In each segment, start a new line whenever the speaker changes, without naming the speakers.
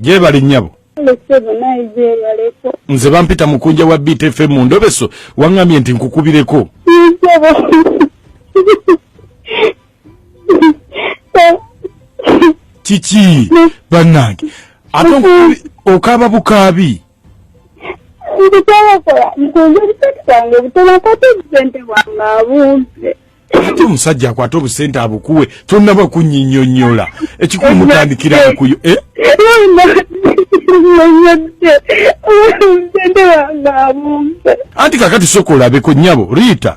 gyebali nyabo
nze bampita mukunja
wa btf mu ndobeso waŋŋambye nti nkukubireko kiki bannange ate okaaba bukaabi ndikyabakola
nkunze obusente bwange obutono akwata obusente bwange abumpe ate omusajja
akwata obusente abukuwe tonaba kunyinyonyola ekikulu mutandikira bukuyo eh? anti kakati soka olabeko nyabo riita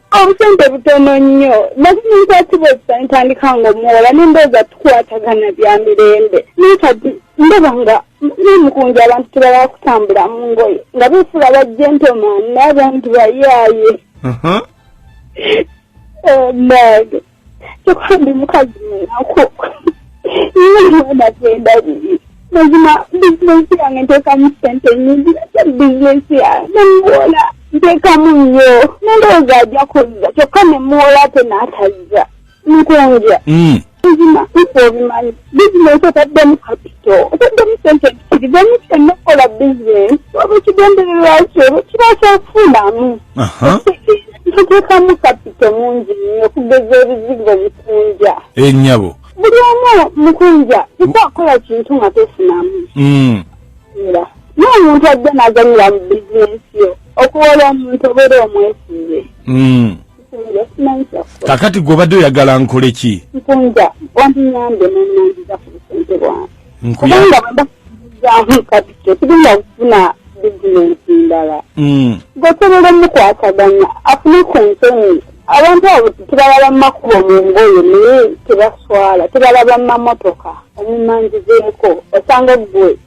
obusente
butono nnyo nakumunkwatiba ekisa ntandika nga omuwola nendooza tukwatagana bya mirembe naye kati ndaba nga nemukunja abantu tebala kutambula mu ngoye nga befuula ba gentleman naye abantu bayaaye uh-huh. oh, kyokuba ndi mukazi munaku nina gendabiri mazima bizinensi yange nteekamu sente nyingi nakyo bizinensi yange nemuwola nteekamu nnyo nendowooza ajja kuzza kyokka nemuwola ate n'atazza nkunja hmm. mazima nkuobimanyi bizinensi otaddemu kapito otaddemu sente ntikirizamu kyonna okukola bizinensi oba ekigendererwa kyo kiba kyakufunamu ntuteekamu kapito mungi nnyo okugeza ebizigo bikunja enyabo eh,
buli omu
mukunja ika akola kintu nga tofunamu mm. era naye omuntu ajja n'aganyira mu bizinensi yo okuwola omuntu obeera omwesinze mm.
kakati gwe obadde oyagala nkole ki nkunja
wandinyambe nenanjiza ku busente bwange kubanga bwembakuzamu kati kyetugenda kufuna bizinensi ndala mm. gwesobola omukwataganya afune ku nsonyi abantu abo tebalaba makubo mu ngoye naye tebaswala tebalaba mamotoka omumanjizeeko osanga gwe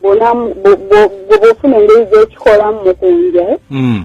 bwofuna engeri zekikolamu mukunja eh? mm.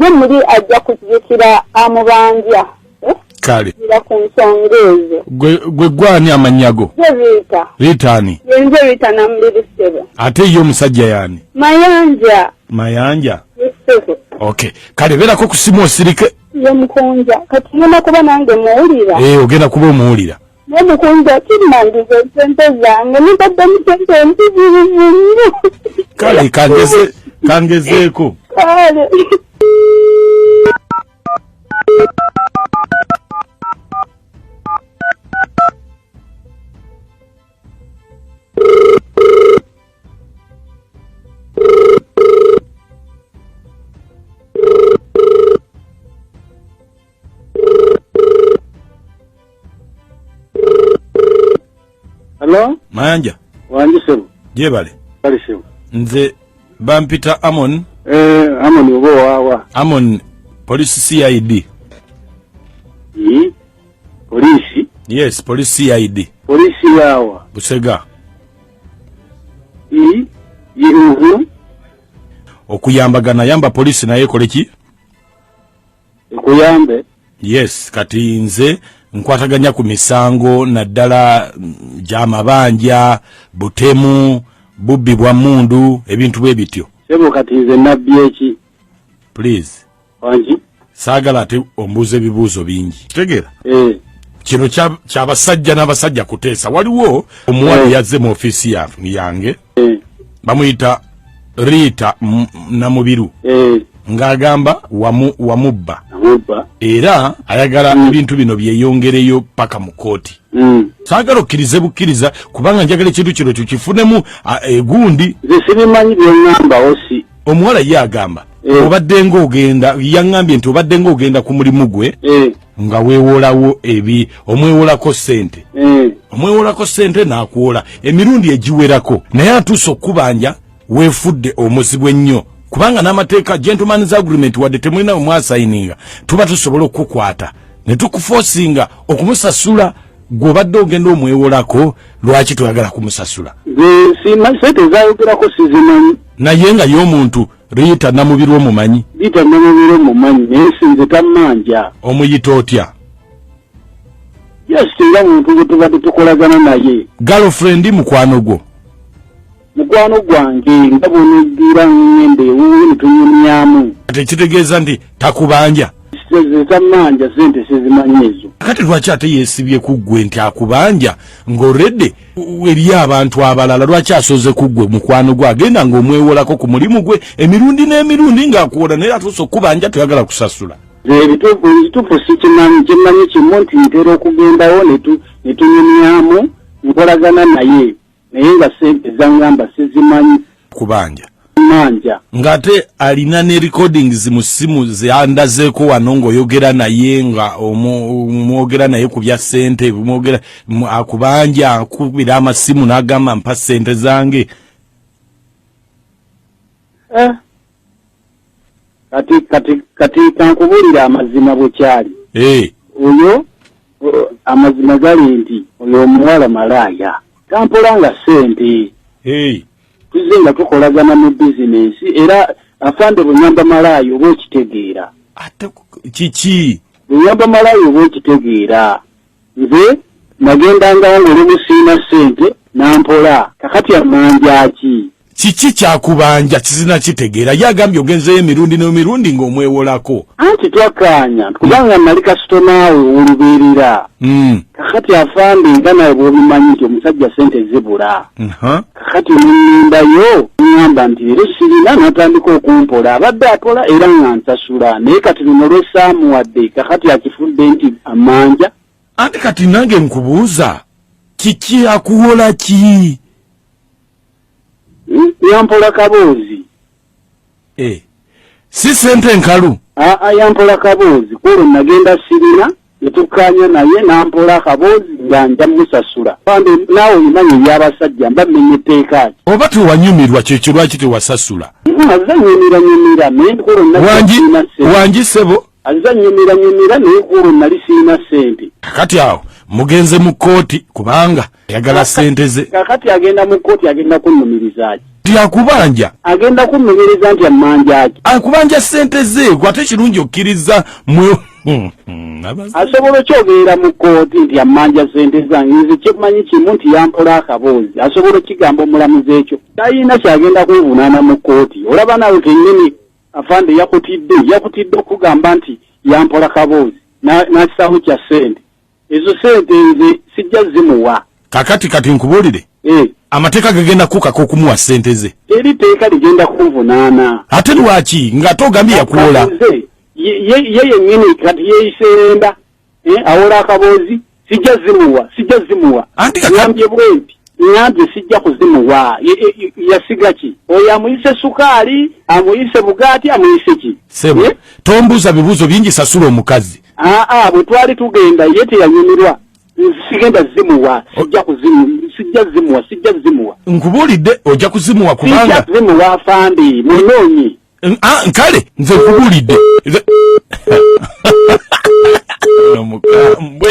ye muli ajja kujjukira amubanja eh? kale
ira ku nsonga
ezo gwe gwani
amannya go riita riita
ani yenze
riita
namuliri sebo ate ye omusajja
yani mayanja mayanja sebo
okay kale
beerako ku simu osirike ye mukunja
kati ngenda kuba nange muwulira ee eh, ogenda kuba omuwulira
naye mukunzi
okimandiza esente zange nibadde musente empitirivu nnyo kale
kangeze kangezeeko kale
Hello? Mayanja.
Wanji sebo.
Jebale. Bali
sebo.
Nze
bampita Amon. Eh, Amon
ubo wawa. Amon,
police CID. Yi?
Police? Yes, police
CID. Police yawa.
Busega.
Yi? Yi uhu? Okuyambagana, yamba police na ye koleki? nkuyambe
yes kati
nze nkwataganya ku misango naddala mm, gyamabanja butemu bubbi bwa mundu ebintu bwe bityo sebo
kati nze nabbi eki please
wangi
saagala ate
ombuuza ebibuuzo bingi tegera eh. kino kyabasajja n'abasajja kuteesa waliwo omuwala eh. yazze mu ofiisi yange eh. bamuyita riita namubiru eh. ng'agamba wamubba era ayagala mm. ebintu bino byeyongereyo paka mu kooti mm. saagala okkirize bukkiriza kubanga njagala ekintu kino kyo kifunemu egundi zesirimanyi
byengamba osi omuwala ye agamba
eh. obadde ngaogenda yaŋambye nti obadde ngaogenda ku mulimu gwe eh. nga wewolawo ebi omwewolako sente mm. omwewolako sente nakuwola emirundi egiwerako naye atuuse okukubanja wefudde omuzibu ennyo kubanga n'amateeka gentlemans agreement wadde temulina wemwasayininga tuba tusobola okukukwata ne tukufosinga okumusasula gwobadde ogenda omwewolako lwaki toyagala kumusasula sente
zayogerako sizimanyi naye nga ye
omuntu Rita Namubirwa omumanyi? Rita Namubirwa
omumanyi naye sinze tammanja. Omuyita otya? Just nga muntu gwe tubadde tukolagana naye. Girlfriend mukwano
gwo? Mukwano
gwange nga bw'oneggira ng'enda ewuwe ne tunyumyamu. Tekitegeeza
nti takubanja? Tammanja
ssente sizimanyi ezo. Kati lwaki ate
yeesibye ku ggwe nti akubanja ng'already eriyo abantu abalala lwaki asoze ku ggwe mukwano gwe agenda ng'omwewolako ku mulimu gwe emirundi n'emirundi ng'akuwola naye atuusa okukubanja toyagala kusasula ekituufu
sikimanyi kimanyi kimu nti ntera okugendawo netunyumyamu nkolagana naye naye nga sente zangamba sizimanyi kubanja
manja
ngate
alina ne recordings mu simu zeandazeko wano ngoyogera naye nga omwogera naye ku bya sente mwogera akubanja akubira amasimu nagamba mpa sente zange eh
kati kati kati kankubuulira amazima bwe kyali eh. oyo amazima gali nti oyo omuwala malaaya tampola nga ssente tuzze nga tukolagana mu bizinensi era afande bunyamba malaaya oba okitegeera
kiki bunyamba malaaya
oba okitegeera nze nagendanga nga oli musiina ssente nampola kakati amanjaki kiki kyakubanja
kizina kitegeera ye agambye ogenzeyo emirundi n'emirundi ng'omwewolako anti twakkaanya
kubanga mm. nali kasitomaawe olubeerera mm. kakati afande nga nawe bwobimanyi nti omusajja sente zibula kakati nenyimbayo ngamba nti leero sirina natandika okumpola abadde apola era nga nsasula naye kati luno lwesaamuwadde kakati akifudde nti amanja anti kati
nange nkubuuza kiki akuwola ki
yampola kaboozi eh.
si sente nkalu aa yampola
kaboozi kwolwo nagenda sirina netukkaanya naye nampola akaboozi nga nja musasula bambi naawe olimanya ebyabasajja mba mmenya etteeka ki oba tewanyumirwa
kyekyo lwaki tewasasula aze nyumira
nyumira naye nkolonawangise
bo Azza nyumira
nyumira naye kuolwo nali sirina ssente. Kakati awo
mugenze mu kkooti kubanga ayagala ssente ze. Kakati agenda mu kkooti
agenda kunnumirizaaki? Nti akubanja.
Agenda kunnumiriza
nti ammanjaaki? Akubanja ssente ze
gwe ate kirungi okkirizza mwe hmm, hmm,
asobola okyogerera mu kkooti nti ammanja ssente zange nze kyemmanyi kimu nti yampola akaboozi asobola okigamba omulamuzi ekyo tayina kyagenda kunvunaana mu kkooti olaba nawe kenyini Afande yakutidde yakutidde okugamba nti yampola kaboozi n'akisaamu kya ssente ezo sente nze sijja zimuwa kakati kati
nkubuulire eh. amateeka gagenda kukaka okumuwa sente ze eri teeka ligenda
kunvunaana ate lwaki
ng'ate ogambye yakuwola
ye yennyini kati yeyiseenda eh, awola akaboozi sijja zimuwa sijja zimuwa ngambye bwenti ngambye sijja kuzimuwa yasiga ki oyo amuyise sukaali amuyise bugaati amuyise ki sebo eh? tombuuza
bibuuzo bingi sasula omukazi aa ah, ah, bwe twali
tugenda ye teyanyumirwa sigenda zimuwa sijja kuzimu sijja zimuwa sijja zimuwa nkubuulidde ojja
kuzimuwa kubanga sijja zimuwa afandi
munoonyi
Ah,
nkale
nze nkubulidde
nomukambwe